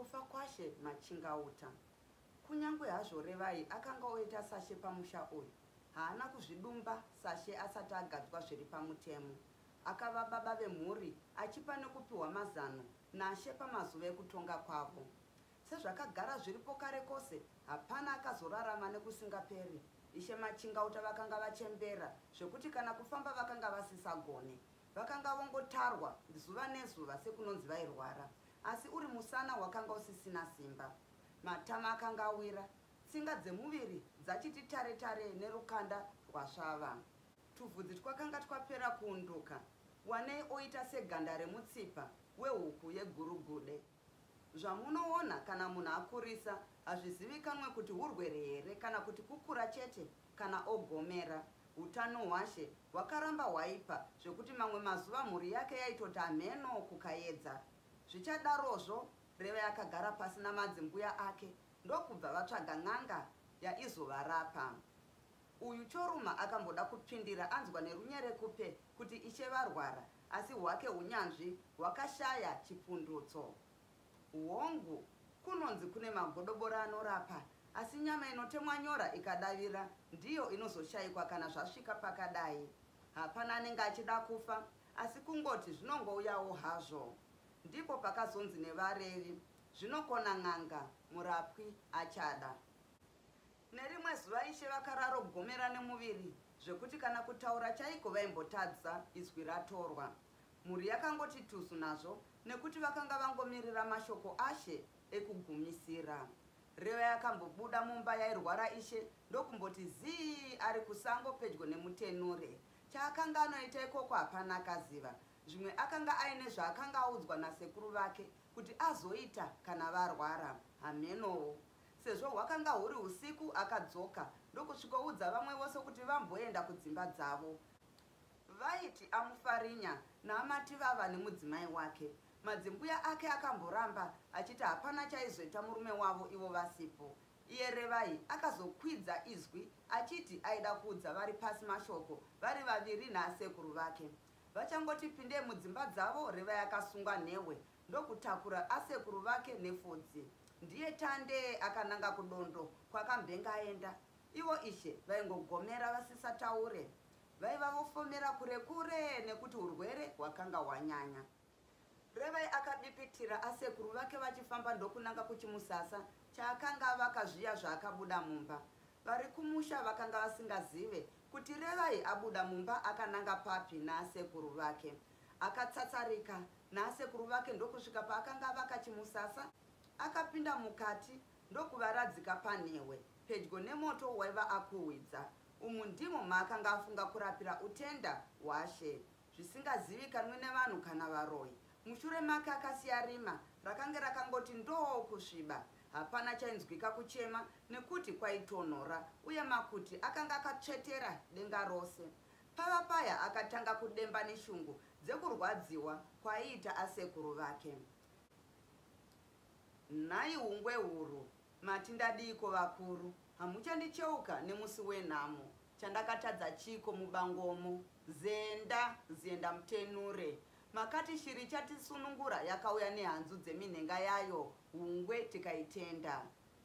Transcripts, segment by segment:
kufa kwashe machingauta kunyange hazvo revai akanga oita sashe pamusha uyu haana kuzvidumba sashe asati agadzwa zviri pamutemo akava baba vemhuri achipa nekupiwa mazano nashe pamazuva ekutonga kwavo sezvakagara zviripo kare kose hapana akazorarama nekusingaperi ishe machingauta vakanga vachembera zvekuti kana kufamba vakanga vasisagone Vakanga vongotarwa zuva nezuva sekunonzi vairwara, asi uri musana wakanga usisina simba. Matama akanga awira, tsinga dzemuviri dzachiti tare tare nerukanda rwasvava. Tuvhudzi twakanga twapera kuunduka, wanei oita seganda remutsipa wehuku yegurugude. Zvamunoona kana munhu akurisa hazvizivikanwe kuti hurwere here kana kuti kukura chete kana ogomera. Hutano hwaShe hwakaramba hwaipa zvekuti mamwe mazuva mhuri yake yaitoti hamheno kuKayedza. Zvichadarozvo Revai akagara pasi namadzimbuya ake ndokubva vatsvaga n'anga yaizovarapa. Uyu Choruma akamboda kupfindira anzwa nerunyerekupe kuti Ishe varwara asi hwake hunyanzvi hwakashaya chipundutso. Hongu, kunonzi kune magodobori anorapa, asi nyama inotemwa nyora ikadavira ndiyo inozoshaikwa kana zvasvika pakadai. Hapana anenge achida kufa, asi kungoti zvinongouyawo hazvo. Ndipo pakazonzi nevarevi, Zvinokona n'anga, murapwi achada. Nerimwe zuva Ishe vakararo gomera nemuviri zvekuti kana kutaura chaiko vaimbotadza izwi ratorwa. Mhuri yakangoti tuzu nazvo nekuti vakanga vangomirira mashoko Ashe ekugumisira. Reva yakambobuda mumba yairwara Ishe ndokumboti zii ari kusango pedyo nemutenure. Chaakanga anoita ikoko hapana akaziva. Zvimwe akanga aine zvaakanga audzwa nasekuru vake kuti azoita kana varwara. Hamenowo Sezvo hwakanga huri usiku, akadzoka ndokusvikoudza vamwe vose kuti vamboenda kudzimba dzavo. Vaiti amufarinya naamati vava nemudzimai wake. Madzimbuya ake akamboramba achiti hapana chaizoita murume wavo ivo vasipo. Iye Revai akazokwidza izwi achiti aida kuudza vari pasi mashoko vari vaviri naasekuru vake. Vachangoti pindei mudzimba dzavo, Revai akasungwa nhehwe ndokutakura asekuru vake nefodzi ndiye tande akananga kudondo kwakambenga aenda ivo ishe vaingogomera vasisataure vaiva vofomera kure kure nekuti urwere hwakanga hwanyanya revai akadipitira asekuru vake vachifamba ndokunanga kuchimusasa chaakanga avaka zviya zvaakabuda mumba vari kumusha vakanga vasingazive kuti revai abuda mumba akananga papi naasekuru vake akatsatsarika nasekuru vake ndokusvika paakanga avaka chimusasa akapinda mukati ndokuvaradzika panhewe pedyo nemoto waiva akuhwidza umu ndimo maakanga afunga kurapira utenda hwashe zvisingazivikanwi nevanhu kana varoyi mushure make akasiya rima rakange rakangoti ndoo kusviba hapana chainzwika kuchema nekuti kwaitonhora uye makuti akanga akatsvetera denga rose Pava paya akatanga kudemba neshungu dzekurwadziwa kwaiita asekuru vake. Nhai hungwe huru, mati ndadiiko vakuru? Hamuchandicheuka nemusi wenhamo. Chandakatadza chiiko mubangomo? Zenda, Zienda Mutenure. Makati shiri ichatisunungura yakauya nehanzu dzeminhenga yayo hungwe tikaitenda.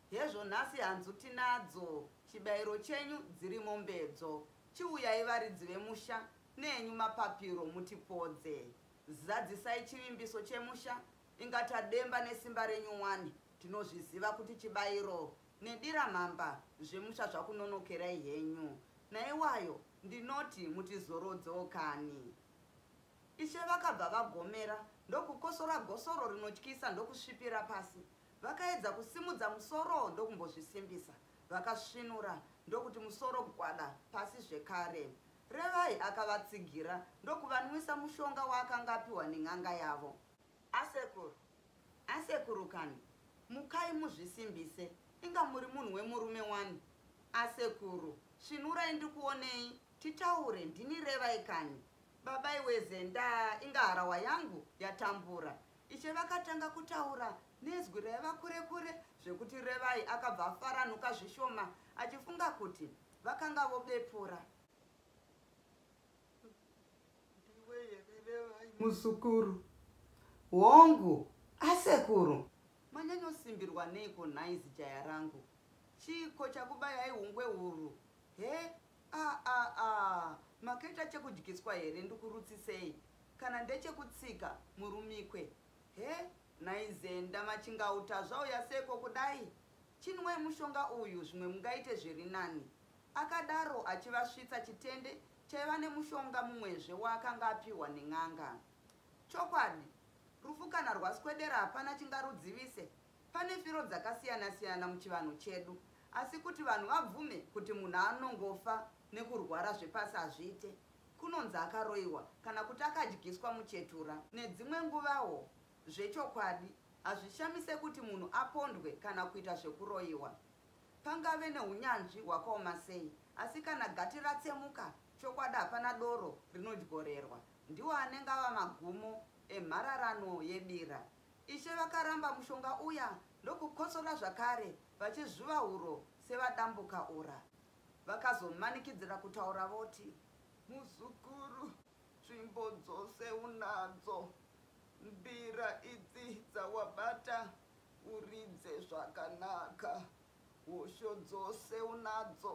Hezvo nhasi hanzu tinadzo, chibairo chenyu dziri mombedzo. Chiuyai varidzi vemusha nenyu mapapiro mutipodze. Zadzisai chivimbiso chemusha inga tademba nesimba renyu wani tinozviziva kuti chibairo nedira mhamba zvemusha zvakunonokerai henyu. Naiwayo ndinoti mutizorodzewo kani. Ishe vakabva vagomera ndokukosora gosoro rinotyisa ndokusvipira pasi. Vakaedza kusimudza musoro ndokumbozvisimbisa. Vakasvinura ndokuti musoro gwada pasi zvekare. Revai akavatsigira ndokuvanwisa mushonga waakanga apiwa nen'anga yavo. Asekuru, asekuru kani, mukai muzvisimbise, inga muri munhu wemurume wani. Asekuru, svinurai ndikuonei, titaure, ndini Revai kani. Baba iweze, ndaa, inga harahwa yangu yatambura. Ishe vakatanga kutaura nezwi raiva kure kure zvekuti Revai akabva afaranuka zvishoma achifunga kuti vakanga vobepura. Ndiwe here Revai muzukuru? Hongu, asekuru. Manyanyosimbirwa neiko nhai zijaya rangu? Chiiko chakubayai hungwe huru? He, Aah makaita chekudyiswa here ndikurutsisei kana ndechekutsika murumikwe he nhai Zenda machingauta zvauya seko kudai chinwai mushonga uyu zvimwe mungaite zviri nani akadaro achivasvitsa chitende chaiva nemushonga mumwezve waakanga apihwa nen'anga Chokwadi rufu kana rwaswedera hapana chingarudzivise Pane firo dzakasiyana siyana muchivanhu chedu asi kuti vanhu vabvume kuti munhu anongofa nekurwara zvepasi hazviite. Kunonzi akaroiwa kana kuti akadyiswa muchetura. Nedzimwe nguvawo zvechokwadi hazvishamise kuti munhu apondwe kana kuita zvekuroiwa. Pangave neunyanzvi hwakaoma sei asi kana gati ratsemuka chokwadi hapana doro rinodyorerwa. Ndiwo anenge ava magumo emhararano yebira. Ishe vakaramba mushonga uya ndokukotsora zvakare vachizvuva huro sevadambuka ura. Vakazomanikidzira kutaura voti. Muzukuru, tsvimbo dzose unadzo. Mbira idzi dzawabata uridze zvakanaka. Hosho dzose unadzo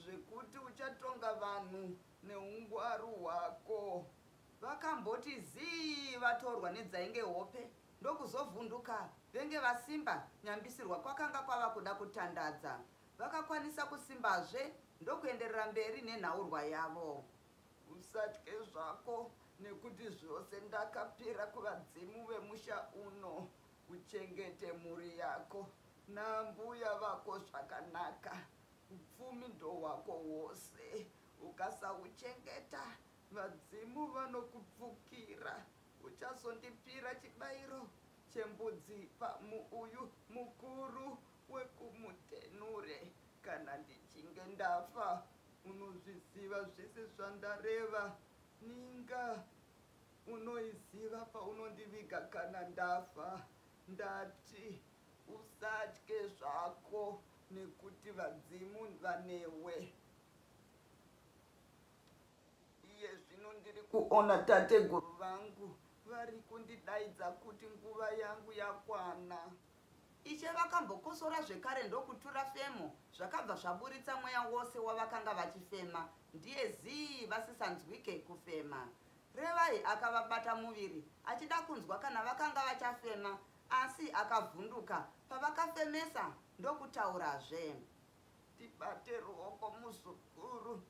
zvekuti uchatonga vanhu neungwaru hwako. Vakamboti zii vatorwa nedzainge hope ndokuzovhunduka venge vasimba nyambisirwa kwakanga kwava kuda kutandadza. Vakakwanisa kusimbazve ndokuenderera mberi nenhaurwa yavo. Usatye zvako nekuti zvose ndakapira kuvadzimu vemusha uno. Uchengete mhuri yako naambuya vako zvakanaka. Upfumi ndohwako hwose. Ukasauchengeta Vadzimu vanokupfukira. Uchazondipira chibairo chembudzi pamuuyu mukuru wekumutenure kana ndichinge ndafa. Unozviziva zvese zvandareva. Ninga unoiziva paunondiviga kana ndafa. Ndati usatye zvako nekuti vadzimu vanewe. Iye zvino ndiri kuona tateguru vangu vari kundidaidza kuti nguva yangu yakwana. Ishe vakambokosora zvekare ndokutura femo zvakabva zvaburitsa mweya wose wavakanga vachifema ndiye zii vasisanzwike kufema. Revai akavabata muviri achida kunzwa kana vakanga vachafema asi akavhunduka pavakafemesa ndokutaurazve. ndibate ruoko muzukuru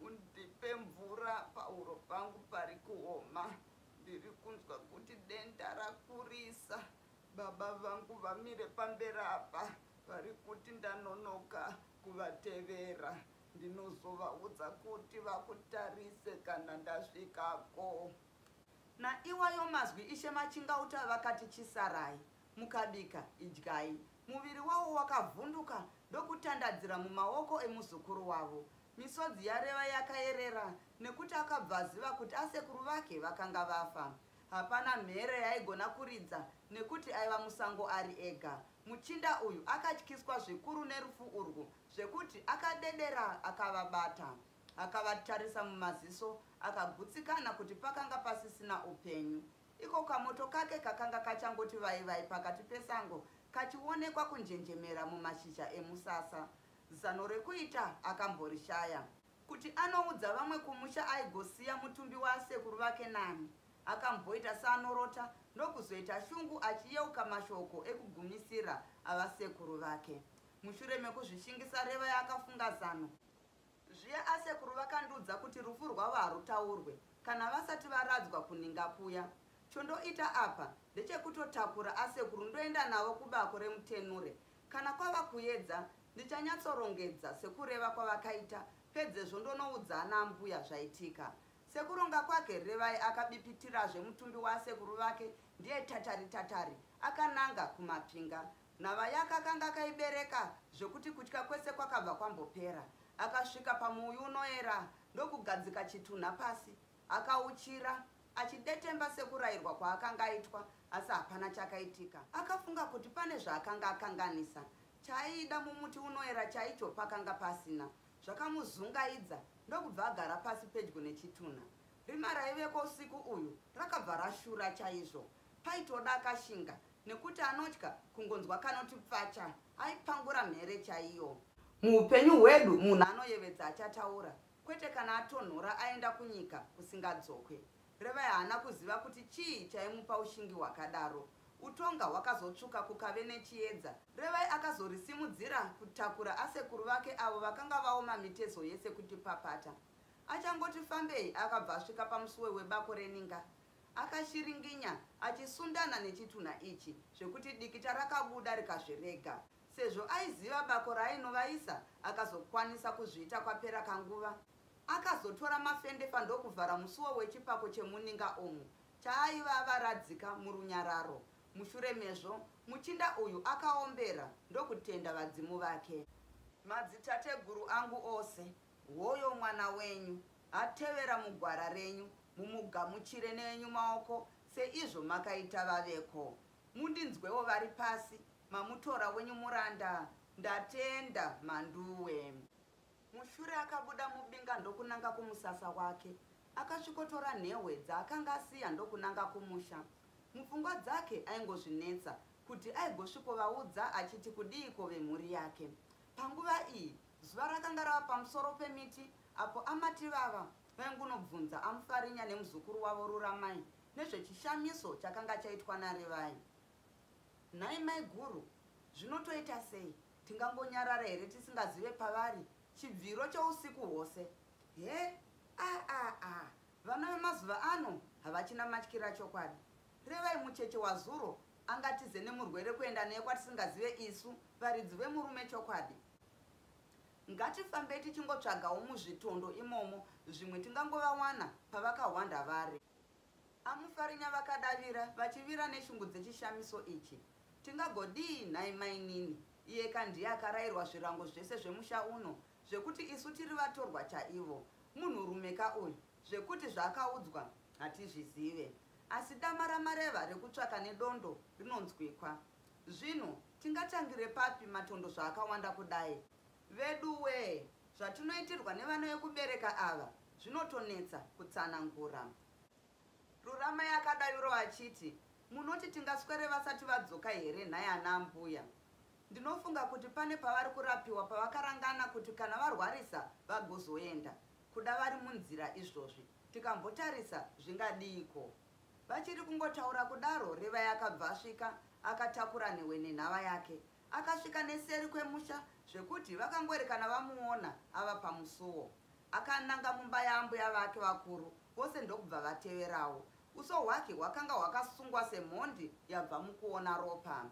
undipe mvura pahuro pangu pari kuoma ndiri kunzwa kuti denda rakurisa baba vangu vamire pamberi apa vari kuti ndanonoka kuvatevera ndinozovaudza kuti vakutarise kana ndasvikako naiwayo mazwi ishe machingauta vakati chisarai Mukabika, idyai. Muviri wavo wakavhunduka ndokutandadzira mumaoko emuzukuru wavo. Misodzi yaReva yakayerera nekuti akabva aziva kuti asekuru vake vakanga vafa. Hapana mhere yaaigona kuridza nekuti aiva musango ari ega. Muchinda uyu akatyiswa zvikuru nerufu urwu zvekuti akadedera akavabata. Akavatarisa mumaziso akagutsikana kuti pakanga pasisina upenyu. Iko kamoto kake kakanga kachangoti vai vai pakati pesango kachionekwa kunjenjemera mumashizha emusasa. Zano rekuita akamborishaya. Kuti anoudza vamwe kumusha aigosiya mutumbi waasekuru vake nani? Akamboita seanorota ndokuzoita shungu achiyeuka mashoko ekugumisira avasekuru vake. Mushure mekuzvishingisa Reva yaakafunga zano. Zviya asekuru vakandiudza kuti rufu rwavo harutaurwe kana vasati varadzwa kuninga kuya. Chondoita apa ndechekutotakura asekuru ndoenda navo kubako reMutenure. Kana kwava kuedza ndichanyatsorongedza sekureva kwavakaita pedzezvo ndonoudza ana ambuya zvaitika. Sekuronga kwake Revai akabipitirazve mutumbi waasekuru vake ndiye tatari tatari akananga kuMapinga. Nhava yake akanga akaibereka zvekuti kutya kwese kwakabva kwambopera. Akasvika pamuuyu unoera ndokugadzika chitunha pasi. Akauchira achidetemba sekurairwa kwaakanga aitwa asi hapana chakaitika. Akafunga kuti pane zvaakanga akanganisa. Chaaida mumuti unoera chaicho pakanga pasina. Zvakamuzungaidza ndokubva agara pasi pedyo nechitunha. Rima raiveko usiku uyu rakabva rashura chaizvo. Paitoda akashinga Nekuti anotya kungonzwa kanoti pfacha aipangura mhere chaiyo. Muupenyu hwedu munhu anoyevedza achataura kwete kana atonhora aenda kunyika kusingadzokwe. Revai haana kuziva kuti chii chaimupa ushingi hwakadaro. Utonga hwakazotsvuka kukave nechiedza. Revai akazorisimudzira kutakura asekuru vake avo vakanga vaoma mitezo yese kuti papata. Achangoti fambei akabva asvika pamusuwe webako reninga Akashiringinya achisundana nechitunha ichi zvekuti dikita rakabuda rikazvirega. Sezvo aiziva bako raainovaisa akazokwanisa kuzviita kwapera kanguva. Akazotora mafendefa ndokuvhara musuwo wechipako chemuninga umu chaaiva avaradzika murunyararo. Mushure mezvo muchinda uyu akaombera ndokutenda vadzimu vake. Madzitateguru angu ose, hoyo mwana wenyu atevera mugwara renyu Mumugamuchire neenyu maoko seizvo makaita vaveko. Mundinzwewo vari pasi, mamutora wenyu muranda. Ndatenda, Mhanduwe. Mushure akabuda mubinga ndokunanga kumusasa wake. Akasvikotora nhehwe dzaakanga asiya ndokunanga kumusha. Mupfungwa dzake aingozvinetsa kuti aigosvikovaudza achiti kudiiko vemhuri yake. Panguva iyi zuva rakanga rava pamusoro pemiti apo amati vava Vaingunobvunza Amufarinya nemuzukuru wavo Ruramai nezvechishamiso chakanga chaitwa naRevai. Nhai maiguru, zvino toita sei? Tingangonyarara here tisingazive pavari? Chibviro chousiku hwose. He, a a a, vana vemazuva ano havachina matyira chokwadi. Revai mucheche wazuro angatize nemurwere kuenda naye kwatisingazive isu, varidzi vemurume chokwadi. Ngatifambei tichingotsvagawo muzvitondo imomo zvimwe tingangovawana pavakahwanda vari. Amufarinya vakadavira vachivira neshungu dzechishamiso ichi. Tingagodii nhai mainini? Iyeka ndiye akarairwa zvirango zvese zvemusha uno zvekuti isu tiri vatorwa chaivo. Munhurumeka uyu zvekuti zvaakaudzwa hatizvizive. Asi dama ramareva rekutsvaka nedondo rinonzwikwa. Zvino tingatangire papi matondo zvaakawanda kudai? Veduwee, zvatinoitirwa nevana vekubereka ava zvinotonetsa kutsanangura. Ruramai akadavirawo achiti, Munoti tingaswere vasati vadzoka here nhai ana ambuya? Ndinofunga kuti pane pavari kurapiwa pavakarangana kuti kana varwarisa vagozoenda, kuda vari munzira izvozvi. Tikambotarisa zvingadiiko? Vachiri kungotaura kudaro Revai akabva asvika akatakura nhewe nenhava yake. Akasvika neseri kwemusha zvekuti vakangoerekana vamuona ava pamusuwo. Akananga mumba yaambuya vake vakuru vose ndokubva vateverawo. Uso hwake hwakanga hwakasungwa semhondi yabva mukuona ropa.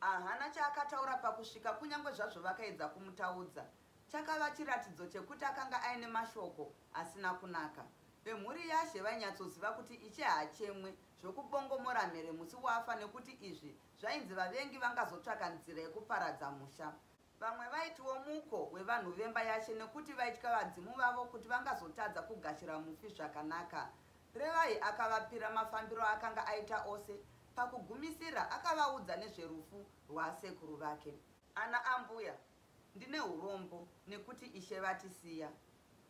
Ahana chaakataura pakusvika kunyangwe zvazvo vakaedza kumutaudza Chakava chiratidzo chekuti akanga aine mashoko asina kunaka. Vemhuri yaShe vainyatsoziva kuti Ishe haachemwe zvokubongomora mhere musi wafa nekuti izvi zvainzi vavengi vangazotsvaka nzira yekuparadza musha. Vamwe vaitiwo muko wevanhu vemba yaShe nekuti vaitya vadzimu vavo kuti vangazotadza kugashira mufi zvakanaka. Revai akavapira mafambiro aakanga aita ose. Pakugumisira, akavaudza nezverufu rwasekuru vake. Ana ambuya Ndine urombo nekuti Ishe vatisiya.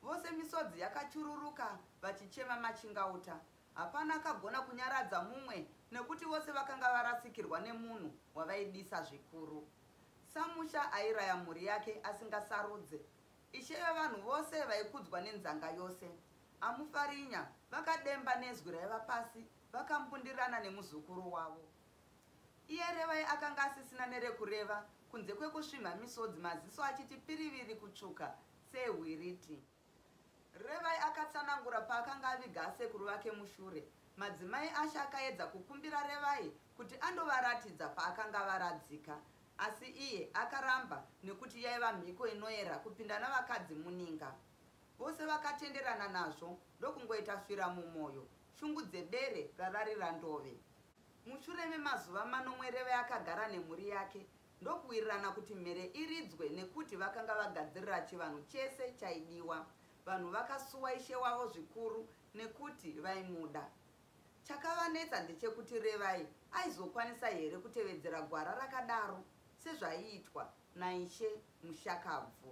Vose misodzi yakachururuka vachichema machingauta. Hapana akagona kunyaradza mumwe nekuti vose vakanga varasikirwa nemunhu wavaidisa zvikuru. Samusha airaya mhuri yake asingasarudze. Ishe vevanhu vose vaikudzwa nenzanga yose. Amufarinya vakademba nezwi raiva pasi vakambundirana nemuzukuru wavo. Iye Revai akanga asisina nerekureva kunze kwekusvimha misodzi maziso achiti piriviri kutsvuka sehwiriti. Revai akatsanangura paakanga aviga asekuru vake mushure. Madzimai ashe akaedza kukumbira Revai kuti andovaratidza paakanga avaradzika asi iye akaramba nekuti yaiva mhiko inoera kupinda navakadzi muninga. Vose vakatenderana nazvo ndokungoita fira mumoyo shungu dzebere rararira ndove. Mushure memazuva manomwe Reve akagara nemhuri yake ndokuwirirana kuti mhere iridzwe nekuti vakanga vagadzirira chivanhu chese chaidiwa. Vanhu vakasuwa ishe wavo zvikuru nekuti vaimuda. Chakavanetsa ndechekuti Revai aizokwanisa here kutevedzera gwara rakadaro sezvaiitwa naIshe mushakabvu.